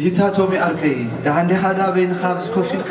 ይታ ቶሚ ኣርከይ ደሓን ዲኻ? ዳበይንኻ ኣብዚ ኮፍ ኢልካ?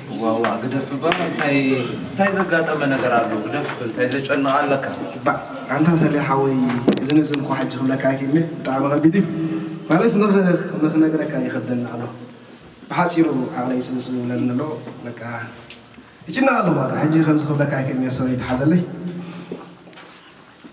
ዋዋ ግደፍ እባ እንታይ ዘጋጠመ ነገር ኣሎ ግደፍ እንታይ ዘጨንቅ ኣለካ። ባእ ኣንታ ሰሌ ሓወይ እዚ ንእዚ እንኳ ሕጂ ክብለካ ኣይክእልን'የ ብጣዕሚ ከቢድ እዩ ማለትስ ንኽነግረካ ይኸብደኒ ኣሎ ብሓጺሩ ዓቕለይ ጽብብጽብ ይብለኒ ኣሎ በቃ ይጭነቕ ኣለኹ በቃ ሕጂ ከምዚ ክብለካ ኣይክእልን'የ ሶሪ ተሓዘለይ።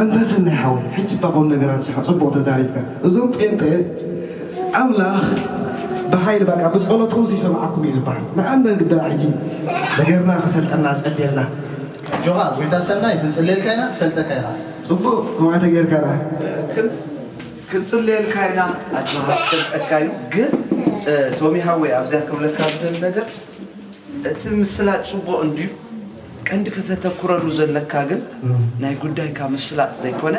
ኣንታ ሰናይ ሓወይ ሕጂ እባ ቁምነገር ኣብዚሓ ጽቡቅ ተዛሪብካ እዞም ጴንጠ ኣምላኽ ብሓይሊ በቃ ብጸሎትኩም ዘይሰምዓኩም እዩ ዝብሃል ንኣንደግ ደኣ ሕጂ ነገርና ክሰልጠና ጸልየልና። ኣጆኻ ጎይታ ሰናይ ክንጽልየልካ ኢና ክሰልጠካ ኢኻ። ጽቡቅ ከምኣ ተጌርካ ደኣ። ክንጽልየልካ ኢና ኣጆኻ ክሰልጠካ እዩ ግን ቶሚ ሓወይ ኣብዚኣ ክብለካ ዝደሊ ነገር እቲ ምስላጥ ጽቡቅ እንድዩ ቀንዲ ከተተኩረሉ ዘለካ ግን ናይ ጉዳይካ ምፍላጥ ዘይኮነ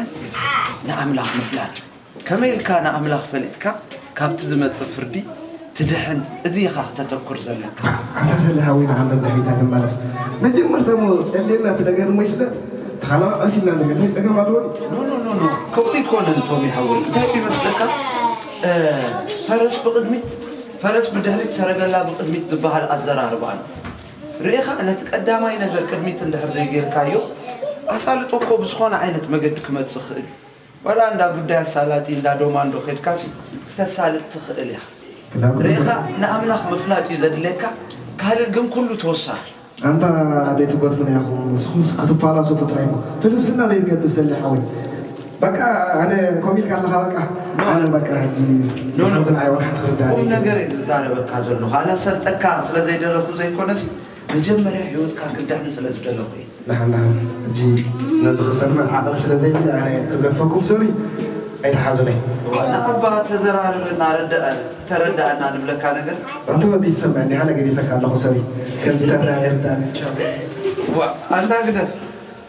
ንኣምላኽ ምፍላጥ እዩ። ከመይ ኢልካ ንኣምላኽ ፈሊጥካ ካብቲ ዝመጽእ ፍርዲ ትድሕን እዚ ኢኻ ክተተኩር ዘለካ። ኣታ ሰሌ ሓወይ ንዓም ነንድሕሪታ ንመለስ መጀመርታ እሞ ጸልየልና እቲ ነገር እሞ ይስለ እቲ ካልኣ ቀሲልና ንሪኦ እንታይ ጸገም ኣለዎ ድዩ? ኖኖኖኖ ከምኡ ኣይኮነን ቶሚ ሓወይ እንታይ ድዩ መስለካ ፈረስ ብቅድሚት ፈረስ ብድሕሪት ሰረገላ ብቅድሚት ዝባሃል ኣዘራርባ ኣሎ ርኢኻ ነቲ ቀዳማይ ነገር ቅድሚት እንድሕር ዘይጌርካዮ ኣሳልጦ እኮ ብዝኾነ ዓይነት መገዲ ክመጽእ ይኽእል እዩ። ዋላ እንዳ ጉዳይ ኣሳላጢ እንዳ ዶማ እንዶ ኬድካሲ ክተሳልጥ ትኽእል ኢኻ። ርኢኻ ንኣምላኽ ምፍላጥ እዩ ዘድልየካ ካልእ ግን ኩሉ ተወሳኺ እዩ። ኣንታ ኣደይ ትጎትጉና ኢኹም ንስኹምስ ክትፋላሰፉ ጥራይ ኢኹም ፍልስፍና ዘይትገድፍ ሰሌ ሓወይ። በቃ ኣነ ከምኡ ኢልካ ኣለኻ በቃ ኖ። ኣነ በቃ ሕጂ ኖ፣ ኖ። ነዞም ዝንዓይ ወራሕቲ ክርዳእ ቁም ነገር እየ ዝዛረበካ ዘለኹ ኣላሰልጠካ ስለ ዘይደለኹ ዘይኮነስ መጀመርያ ሂወትካ ክድሕን ስለ ዝደለኹ እየ ንሓን ንሓን ሕጂ ነዚ ክሰምዕ ዓቕሊ ስለ ዘይብለይ ኣነ ክገድፈኩም ሶሪ ኣይትሓዙለይ ዋላ እባ ተዘራረበና ረዳ- ተረዳእና ንብለካ ነገር ኣንተ ወዲ ትሰምዕ እንዲኻ ነገዲፈካ ኣለኹ ሶሪ ከምዚታት ኣይርዳእን ቻው ዋ ኣንታ ግደፍ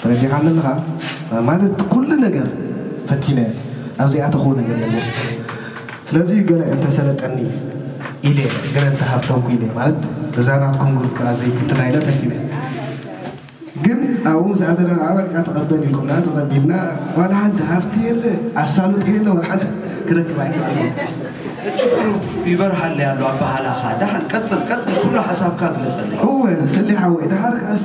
ተረዲኻ ኣለኻ ማለት ኩሉ ነገር ፈቲነ ኣብ ዘይኣተኽዎ ነገር የለን ስለዚ እዩ ገለ እንተሰለጠኒ ኢለ ገለ እንተሃብተምኩ ኢለ ማለት በዛ ናትኩም ግሩፕ ከኣ ዘይፍትና ኢለ ፈቲነ ግን ኣብኡ ምስ ኣተና ከኣ በቃ ተቐበል ኢልኩምና ተቐቢልና ዋላ ሓንቲ ሃፍቲ የለ ኣሳልጦ የለ ዋላ ሓንቲ ክረክብ ኣይከኣልኩን ችግሩ ይበርሃለይ ኣሎ ኣበሃላኻ ደሓን ቀፅል ቀፅል ኩሉ ሓሳብካ ግለፀለይ እወ ሰሌ ሓወይ ደሓር ከኣስ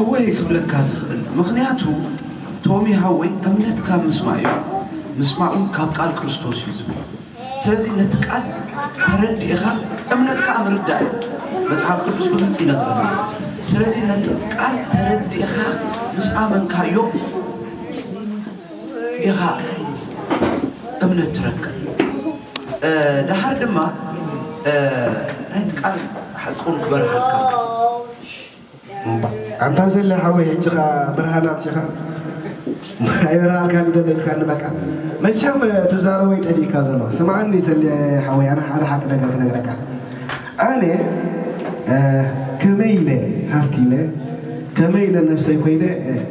እወ እየ ክብለካ ዝኽእል ምኽንያቱ ቶሚ ሓወይ እምነትካ ምስማእ እዩ ምስማእ እውን ካብ ቃል ክርስቶስ እዩ ዝብል ስለዚ ነቲ ቃል ተረዲእኻ እምነት ከዓ ምርዳእ እዩ መፅሓፍ ቅዱስ ብግልፂ ይነግረና እዩ ስለዚ ነቲ ቃል ተረዲእኻ ምስ ኣመንካዮ ኢኻ እምነት ትረክብ ደሓር ድማ ናይቲ ቃል ሓቁን ክበርሃልካ ኣንታ ሰሌ ሓወይ ሕጂ ከኣ ብርሃን ኣምጺኻ ኣይበርሃልካን እዩ ደሎ ኢልካኒ በቃ መቸም ትዛረቦ እዩ ጠፊእካ ዘሎ ስምዓኒ ሰሌ ሓወይ ኣነ ሓደ ሓቂ ነገር ክነግረካ ኣነ ከመይ ኢለ ሃፍቲ ኢለ ከመይ ኢለ ነፍሰይ ኮይነ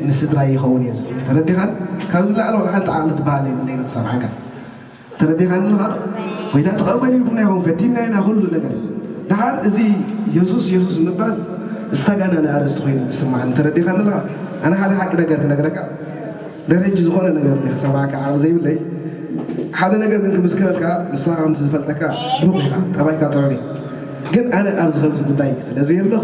ንስድራይ ይኸውን እየ ዝብል ተረዲኻን ካብ ዝለዓለ ወላ ሓንቲ ዓቕሊ ትበሃል የብለይን ክሰምዓካ ተረዲኻኒ ኣለኻ ዶ? ጐይታ ተቐበል ኢልኩምና ኢኹም፣ ፈቲንና ኢና ኵሉ ነገር። ደሓር እዚ የሱስ የሱስ ምባል ዝተጋነነ ኣርእስቲ ኰይኑ እዩ ዝስምዓኒ። ተረዲኻኒ ኣለኻ? ኣነ ሓደ ሓቂ ነገር ክነግረካ፣ ድሕሪ ሕጂ ዝዀነ ነገር እንድየ ክሰምዓካ ዓቕሊ ዘይብለይ። ሓደ ነገር ግን ክምስክረልካ፣ ንስኻ ከምቲ ዝፈልጠካ ብሩኽ ኢኻ፣ ጠባይካ ጥዑይ እዩ። ግን ኣነ ኣብዚ ከምዚ ጕዳይ ስለ ዘየለኹ፣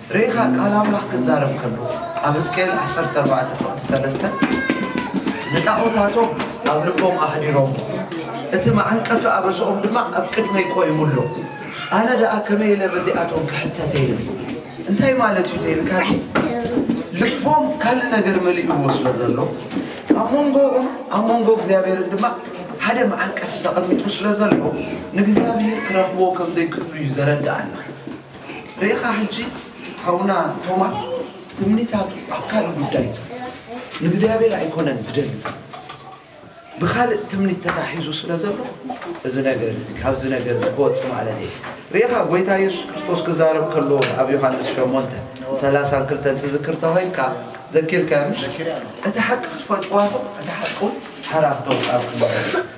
ርኢኻ ቃል ኣምላኽ ክዛረብ ከሎ ኣብ ህዝቅኤል ዓሰርተ ኣርባዕተ ፍቕዲ ሰለስተ ንጣዖታቶም ኣብ ልቦም ኣሕዲሮሞ እቲ መዓንቀፊ ኣበሰኦም ድማ ኣብ ቅድመይ ቆይሙ ኣሎ ኣነ ደኣ ከመይ ኢለ በዚኣቶም ክሕተት እየ ኢሉ እንታይ ማለት እዩ ተይልካኒ ልቦም ካልእ ነገር መሊእዎ ስለ ዘሎ ኣብ መንጎኦም ኣብ መንጎ እግዚኣብሔርን ድማ ሓደ መዓንቀፊ ተቐሚጡ ስለ ዘሎ ንእግዚኣብሔር ክረኽብዎ ከም ዘይክእሉ እዩ ዘረድኣና ርኢኻ ሕጂ ሓውና ቶማስ ትምኒታቱ ኣብ ካልእ ጉዳይ ዩ ዘሎ ንእግዚኣብሔር ኣይኮነን ዝደሊ ዘሎ ብኻልእ ትምኒት ተታሒዙ ስለ ዘሎ እዚ ነገር እዚ ካብዚ ነገር እዚ ክወፅ ማለት እየ ርኢኻ ጎይታ የሱስ ክርስቶስ ክዛረብ ከሎ ኣብ ዮሃንስ ሸሞንተ ሰላሳን ክልተን ትዝክር ተኾይንካ ዘኪርካዮ ምሽ እቲ ሓቂ ክትፈልጥዋ ኹም እቲ ሓቂ ውን ሓራ ክተውፃልኩም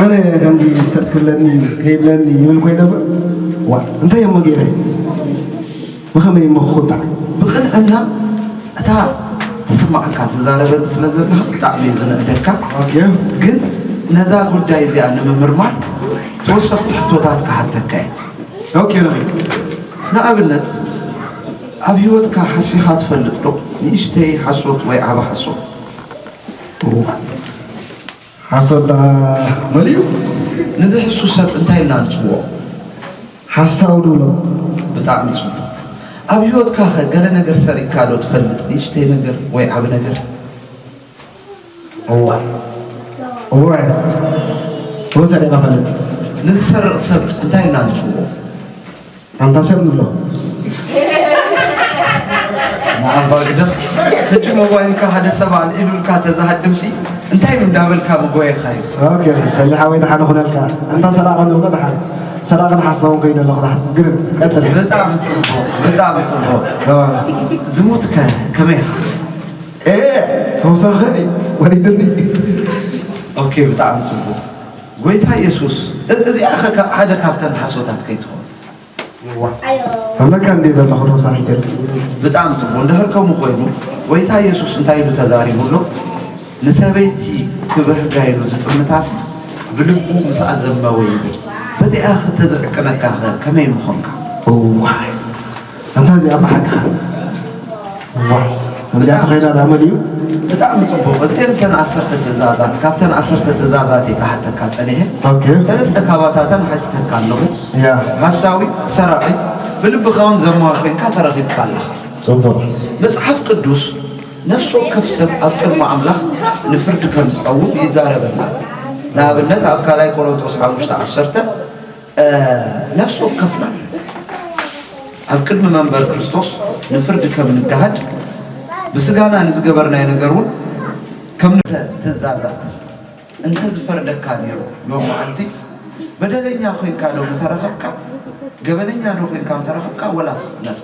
ኣነ ከምዚ ሰብ ክብለኒ እዩ ከይብለኒ ይብል ኮይነ ዋ እንታይ እሞ ገይረ ብኸመይ እሞ ክቁጣዕ ብቕንዕና እታ ትስማዓካ ትዛረበኒ ስለ ዘለካ ብጣዕሚ እዩ ዝንእደካ ግን ነዛ ጉዳይ እዚኣ ንምምርማር ተወሰኽቲ ሕቶታት ክሓተካ እየ ንኣብነት ኣብ ህይወትካ ሓሲኻ ትፈልጥ ዶ ንእሽተይ ሓሶት ወይ ዓበ ሓሶት ሓሶት ደኣ መሊኡ ነዚ ሕሱር ሰብ እንታይ ኢልና ንጽውዖ? ሓሳዊ ንብሎ። ብጣዕሚ ጽቡቕ። ኣብ ህይወትካኸ ገለ ነገር ሰሪቕካዶ ትፈልጥ? ንእሽተይ ነገር ወይ ዓቢ ነገር? እዋይ እዋይ እወ ሰሪቐ እፈልጥ። ንዝሰርቕ ሰብ እንታይ ኢልና ንጽውዖ? ኣምባሰል ንብሎ ንኣባ ግደፍ ሕጂ ሞባይልካ ሓደ ሰብ ኣልዒሉልካ ተዝሃድምሲ እንታይ እንዳበልካ ምጎየካ እዩ ኦኬ ሰሊ ሓወይ ደሓን ኹነልካ ኣንታ ሰራቂ ንብሎ ደሓን ሰራቂ ንሓስኸውን ከይደ ኣለኹ ደሓን ግርም ቀጽል ብጣዕሚ ጽቡቕ ብጣዕሚ ጽቡቕ ዝሙት ከ ከመይ ኢኻ ኤ ተውሳኺ ወሪድኒ ኦኬ ብጣዕሚ ጽቡቕ ጎይታ የሱስ እዚኣኸ ካብ ሓደ ካብተን ሓሶታት ከይትኸውን። ኣለካ እንዴ ዘለኹ ተወሳኺ ገርኪ ብጣዕሚ ጽቡቅ እንድሕር ከምኡ ኮይኑ ጎይታ የሱስ እንታይ ኢሉ ተዛሪቡ ኣሎ ንሰበይቲ ክብህጋ ኢሉ ዝጥምታሲ ብልቡ ምስ ኣዘመወ ይብል በዚኣ ክተዝዕቅነካ ከ ከመይ ምኾንካ እዋይ ኣንታ እዚኣ ብሓቅኻ ዋው ከምዚኣ ተኸይዳ ዳመ ድዩ ብጣዕሚ ፅቡቅ እዚኤን ተን ዓሰርተ ትእዛዛት ካብተን ዓሰርተ ትእዛዛት እየ ክሓተካ ፀኒሐ ኦኬ ሰለስተ ካባታተን ሓቲተካ ኣለኹ ያ ሓሳዊ ሰራቂ ብልብኻ እውን ዘማ ኮይንካ ተረኺብካ ኣለኻ ፅቡቅ መጽሓፍ ቅዱስ ነፍሲ ወከፍ ሰብ ኣብ ቅድሚ ኣምላኽ ንፍርዲ ከም ዝቐውም ይዛረበና ኣሎ። ንኣብነት ኣብ ካልኣይ ቆሮንጦስ ሓሙሽተ ዓሰርተ ነፍሲ ወከፍና ኣብ ቅድሚ መንበር ክርስቶስ ንፍርዲ ከም ንገሃድ ብስጋና ንዝገበርናዮ ነገር እውን ከም ትእዛዛት እንተ ዝፈርደካ ነይሩ ሎም መዓልቲ በደለኛ ኮይንካ ዶ ምተረኸብካ ገበነኛ ዶ ኮይንካ ምተረኸብካ ወላስ ነፃ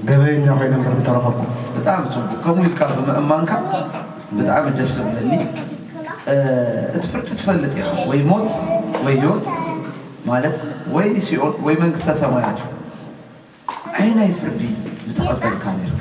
ገበኛ ኮይነ እምበር እንተረኸብኩ ብጣዕሚ ፅቡቅ ከምኡ ኢልካ ብምእማንካ ብጣዕሚ ደስ ዝብለኒ እቲ ፍርዲ ትፈልጥ ኢኻ ወይ ሞት ወይ ህይወት ማለት ወይ ሲኦል ወይ መንግስተ ሰማያት እዩ ዓይናይ ፍርዲ ምተቐበልካ ነርካ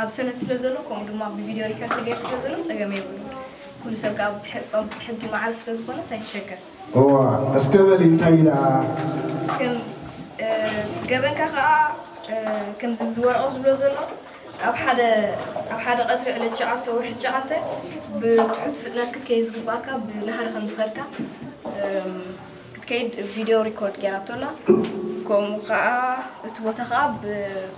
ኣብ ሰነድ ስለ ዘሎ ከምኡ ድማ ብቪድዮ ሪከርድ ተገይሩ ስለ ዘሎ ጸገም የብሉን። ኩሉ ሰብ ከኣ ብ ሕጊ ማዕረ ስለ ዝኾነስ ኣይትሸገር። እዋ እስከ በሊ እንታይ እዩ ደኣ? ከም ገበንካ ከኣ ከምዚ ኣብዚ ወረቐት ዝብሎ ዘሎ ኣብ ሓደ ኣብ ሓደ ቀትሪ ዕለት ትሽዓተ ወርሒ ትሽዓተ ብትሑት ፍጥነት ክትከይድ ዝግብኣካ ብናህሪ ከም ዝኸድካ ክትከይድ ቪድዮ ሪኮርድ ገይራቶ ኣላ። ከምኡ ከኣ እቲ ቦታ ከኣ ብ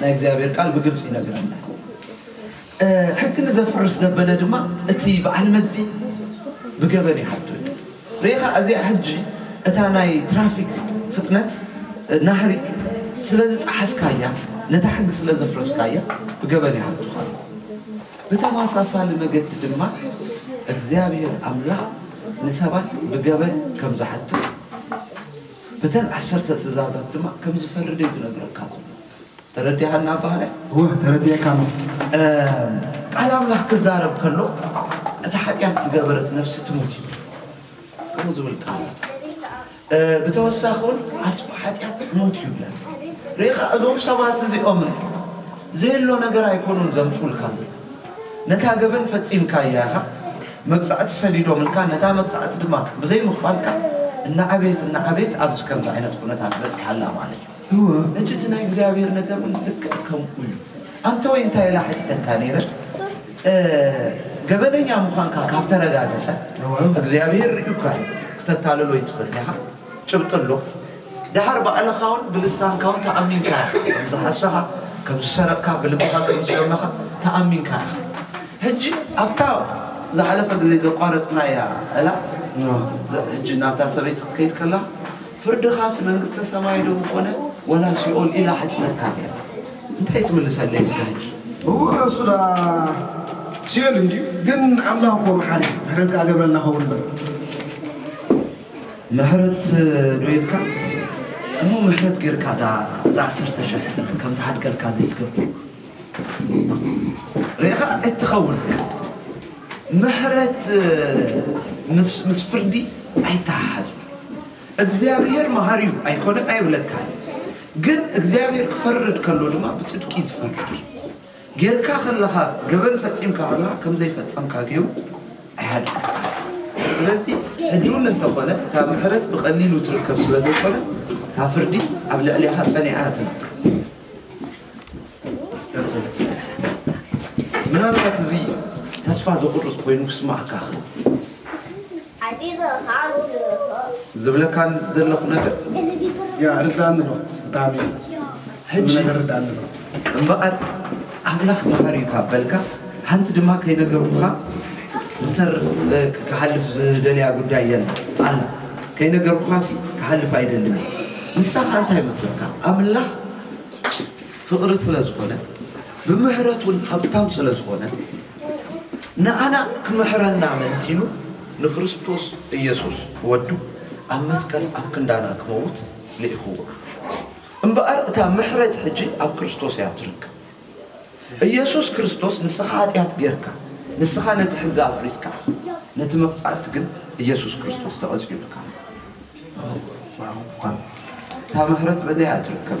ናይ እግዚኣብሔር ቃል ብግልፂ ይነግረና ሕጊ ንዘፍርስ ዘበለ ድማ እቲ በዓል መዚ ብገበን ይሓቱ ሬኻ እዚኣ ሕጂ እታ ናይ ትራፊክ ፍጥነት ናህሪ ስለዚ ጣሓስካያ ነታ ሕጊ ስለ ዘፍረስካያ ብገበን ይሓቱኻ ብተመሳሳሊ መገዲ ድማ እግዚኣብሔር ኣምላኽ ንሰባት ብገበን ከም ዝሓትት በተን ዓሰርተ ትእዛዛት ድማ ከም ዝፈርድ እየ ዝነግረካ ዘለኹ። ተረዲኣኒ ኣባሃላይ? እወ፣ ተረዲኤካ ኣለኹ። ቃል ኣምላኽ ክዛረብ ከሎ እታ ሓጢኣት ዝገበረት ነፍሲ ትሙት እዩ ከምኡ ዝብል ቃል ኣሎ። ብተወሳኺ እውን ዓስቢ ሓጢኣት ሞት እዩ ይብለና። ርኢኻ እዞም ሰባት እዚኦም ዝህሎ ነገር ኣይኮኑን ዘምፅኡልካ ነታ ገበን ፈጺምካያ ኢኻ፣ መቅጻዕቲ ሰዲዶምልካ፣ ነታ መቅጻዕቲ ድማ ብዘይ ምኽፋልካ እናዓበየት እናዓበየት ኣብዚ ከምዚ ዓይነት ኩነታት በጺሓ ኣላ ማለት እዩ። እወ ሕጂ እቲ ናይ እግዚኣብሔር ነገር እውን ልክዕ ከምኡ እዩ። ኣንተወይ እንታይ ኢላ ሓቲተካ ነይረ? እ ገበነኛ ምዃንካ ካብ ተረጋገጸ እወ። እግዚኣብሔር ርእዩካ እዩ፣ ክተታልሎ ኣይትኽእልን ኢኻ። ጭብጢ ኣሎ ደሓር ባዕልኻውን ብልሳንካውን ተኣሚንካ ኢኻ ከም ዝሓሰኻ ከም ዝሰረቕካ ብልብኻ ከም ዝሰመኻ ተኣሚንካ ኢኻ ሕጂ ኣብታ ዝሓለፈ ግዜ ዘቋረጽናያ እላ ሕጂ ናብታ ሰበይቲ ክትከይድ ከላ ፍርድኻስ መንግስተ ሰማይ ዶ ኮነ ወላ ሲኦል ኢላ ሓቲተትካ ነይራ እንታይ ትምልሰለይ እስከ ሕጂ እወ እሱዳ ሲኦል እንድዩ ግን ኣምላኽ እኮ መሓሪ እዩ ምሕረት ከኣ ገብረልና ኸውን እምበር ምሕረት ዶ ኢልካ እሞ ምሕረት ጌርካ ዳኣ እዛ ዓሰርተ ሽሕ ጥንት ከም ዝሓድገልካ ዘይትገብር ርኢኻ ኣይትኸውን ኢኻ ምሕረት ምስ ምስ ፍርዲ ኣይተሓሓዝን እግዚኣብሄር መሃሪ እዩ ኣይኮነን ኣይብለካን ግን እግዚኣብሄር ክፈርድ ከሎ ድማ ብጽድቂ እዩ ዝፈርድ ጌርካ ከለኻ ገበን ፈጺምካ ከለኻ ከም ዘይፈጸምካ ጌሩ ኣይሃድነካን። ስለዚ ሕጂ እውን እንተኾነ እታ ምሕረት ብቐሊሉ ትርከብ ስለ ዘይኮነት እታ ፍርዲ ኣብ ልዕሌኻ ጸኒዓ እያ ትነብር። ምናልባት እዚ ተስፋ ዘቑርጽ ኮይኑ ክስምዓካ ይኽእል። ዝብለካን ዘለኹ ነገር ርድኣኒ ዶ ብጣዕሚ ሕጂ ነገር ርድኣኒ ዶ እምበኣር ኣምላኽ መሃሪ እዩ ካብ በልካ ሓንቲ ድማ ከይነገርኩኻ ዝተርፍ ክሓልፍ ዝደልያ ጉዳይ የለ ኣላ ከይነገርኩኻ ሲ ክሓልፍ ኣይደልን እዩ ንሳ ከዓ እንታይ መስለካ ኣምላኽ ፍቕሪ ስለ ዝኾነ ብምሕረቱን ሀብታም ስለ ዝኾነ ንኣና ክምሕረና ምእንቲ ኢሉ ንክርስቶስ ኢየሱስ ወዱ ኣብ መስቀል ኣብ ክንዳና ክመውት ልኢኽዎ። እምበኣር እታ ምሕረት ሕጂ ኣብ ክርስቶስ እያ ትርከብ። ኢየሱስ ክርስቶስ ንስኻ ኃጢኣት ጌርካ፣ ንስኻ ነቲ ሕጊ ኣፍሪስካ፣ ነቲ መቕጻዕቲ ግን ኢየሱስ ክርስቶስ ተቐጺዑልካ ኣሎ። እታ ምሕረት በዘይ እያ ትርከብ።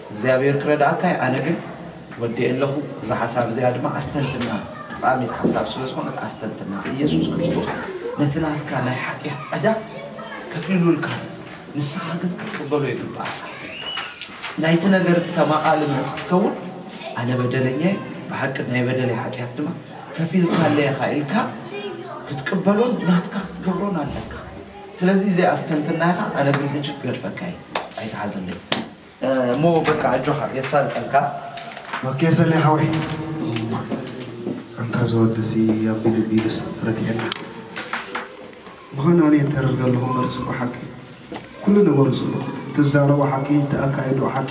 እግዚኣብሔር ክረድኣካ እዩ ኣነ ግን ወዲኤ ኣለኩ እዛ ሓሳብ እዚኣ ድማ ኣስተንትና ጠቃሚት ሓሳብ ስለ ዝኮነት ኣስተንትና ኢየሱስ ክርስቶስ ነቲ ናትካ ናይ ሓጢኣት ዕዳ ከፊሉልካ ንስካ ግን ክትቅበሎ ይግብኣካ ናይቲ ነገር እቲ ተማቃሊ ምእንቲ ክትከውን ኣነ በደለኛ እዩ ብሓቂ ናይ በደለይ ሓጢኣት ድማ ከፊልካለይ ኢካ ኢልካ ክትቅበሎን ናትካ ክትገብሮን ኣለካ ስለዚ እዚ ኣስተንትና ኢካ ኣነ ግን ሕጂ ክገድፈካ እዩ ኣይትሓዘለይ እሞ በቃ ኣጆኻ የሳልጠልካ። ኦኬ ሰሌ ሓወይ ኣንታ ዝወድሲ ኣቢ ልቢሉስ ረቲዐና ብኮነ ኣነ ይተርር ዘለኩ መልሱ እኮ ሓቂ እዩ ኩሉ ነገሩ ጽቡቅ ትዛረቦ ሓቂ ተኣካይድኡ ሓቂ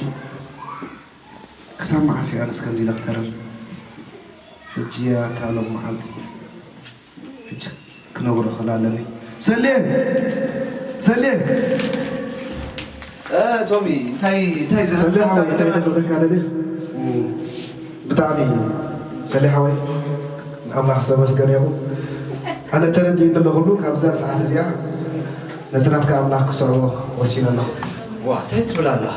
ክሳብ መዓስ እየ ኣነስ ከምዚ ኢለ ክተርር ሕጂ ኣታ ሎም መዓልቲ ብቻ ክነግሮ ክእል ኣለኒ ሰሌ ሰሌ። ቶሚ እንታይ እንታይ ዝብል ሰሌ ሓወይ እንታይ ከብለካ ደልየ ብጣዕሚ ሰሌ ሓወይ ኣምላኽ ዝተመስገነ ይኹን ኣነ ተረዲእኒ ኣሎ ኩሉ ካብዛ ሰዓት እዚኣ ነቲ ናትካ ኣምላኽ ክስዕቦ ወሲነ ኣለኹ። ዋእ ታይ ትብል ኣለኻ።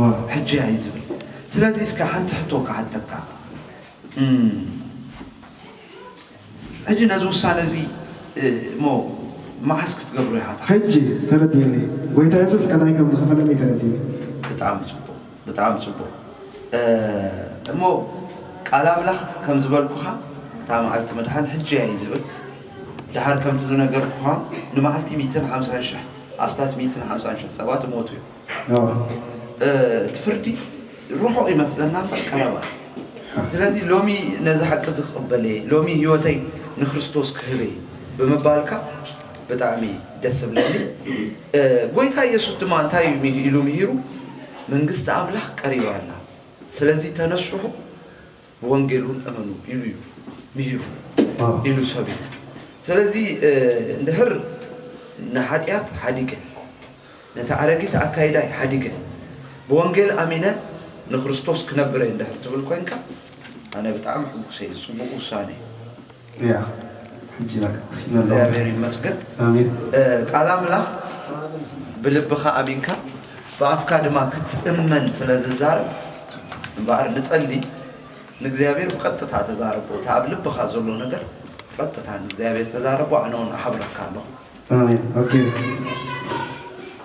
ዋው ሕጂ ኣዩ ዝብል ስለዚ እስከ ሓንቲ ሕቶ ክሓተካ ሕጂ ነዚ ውሳነ እዚ እሞ መዓስ ክትገብሮ ኢካ ትሓስብ። ሕጂ ተረዲኡኒ ጎይታ የሱስ ዕዳይ ከም ዝከፈለለይ ተረዲኡኒ። ብጣዕሚ ጽቡቅ ብጣዕሚ ጽቡቅ እሞ ቃል ኣምላኽ ከም ዝበልኩካ እታ መዓልቲ ምድሓን ሕጂ ኣያ እዩ ዝብል ድሓር ከምቲ ዝነገርኩካ ንመዓልቲ ሚእትን ሓምሳን ሽሕ ኣስታት ሚእትን ሓምሳን ሽሕ ሰባት ይሞቱ እዮም እቲ ፍርዲ ርሑቕ ይመስለና እምበር ቀረባ እዩ። ስለዚ ሎሚ ነዚ ሓቂ እዚ ክቕበል እየ፣ ሎሚ ህይወተይ ንክርስቶስ ክህብ እየ ብምባልካ ብጣዕሚ ደስ ዝብለኒ። ጎይታ ኢየሱስ ድማ እንታይ እዩ ኢሉ ምሂሩ? መንግስቲ ኣምላኽ ቀሪባ ኣላ። ስለዚ ተነስሑ። ብወንጌልውን እመኑ ኢሉ እዩ ምሂሩ ኢሉ ሰብኩ። ስለዚ እንድሕር ንሓጢኣት ሓዲገ፣ ነቲ ኣረጊት ኣካይዳይ ሓዲገ፣ ብወንጌል ኣሚነ ንክርስቶስ ክነብር እየ እንድሕር ትብል ኮይንካ፣ ኣነ ብጣዕሚ ሕጉስ እየ። እዚ ጽቡቕ ውሳነ እዩ። እግዚኣብሔር ይመስገን ቃል ኣምላኽ ብልብኻ ኣሚንካ ብኣፍካ ድማ ክትእመን ስለ ዝዛረብ እምበኣር ንጸሊ ንእግዚኣብሔር ብቐጥታ ተዛረቦ እቲ ኣብ ልብኻ ዘሎ ነገር ብቐጥታ ንእግዚኣብሔር ተዛረቦ ኣነ ውን እሓብረካ ኣለኹ ኣሜን ኦኬ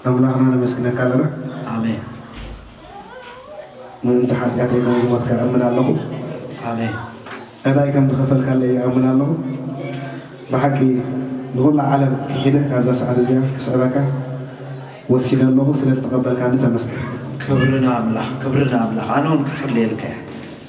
ኣምላኽና ነመስግነካ ኣለና ኣሜን ምእንቲ ሓጢኣተይ ከም ዝሞትካ እምን ኣለኹ ኣሜን ዕዳይ ከም ዝኸፈልካለይ ይኣምን ኣለኹ ብሓቂ ንኹላ ዓለም ክሒደ ካብዛ ሰዓት እዚኣ ክስዕበካ ወሲነ ኣለኹ ስለ ዝተቐበልካኒ ተመስገን ክብሪ ንኣምላኽ ክብሪ ንኣምላኽ ኣነ እውን ክፅልየልካ እየ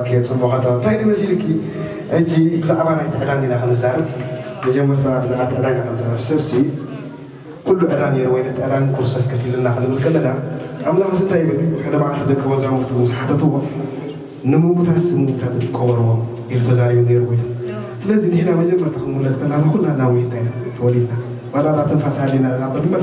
ኦኬ ጽቡቅ ኣታ እንታይ ድዩ መሲልኪ ሕጂ ብዛዕባ ናይቲ ዕዳን ዲና ክንዛረብ መጀመርታ ብዛዕባቲ ዕዳን ኢና ክንዛረብ ሰብሲ ኩሉ ዕዳ ኔሩ ወይ ነቲ ዕዳ ንኩርስቶስ ከፊሉልና ክንብል ከለና ኣምላኽሲ እንታይ ይብል ሓደ መዓልቲ ደቂ መዛሙርቱ ምስ ሓተትዎ ንምዉታትሲ ምዉታት ድዩ ክቀበርዎም ኢሉ ተዛሪቡ ኔሩ ወይ ስለዚ ንሕና መጀመርታ ክንዉለድ ከላና ኩላትና ሞይትና ኢና ተወሊድና ዋላ እታ ትንፋስ ሃልይና ንናበር እምበር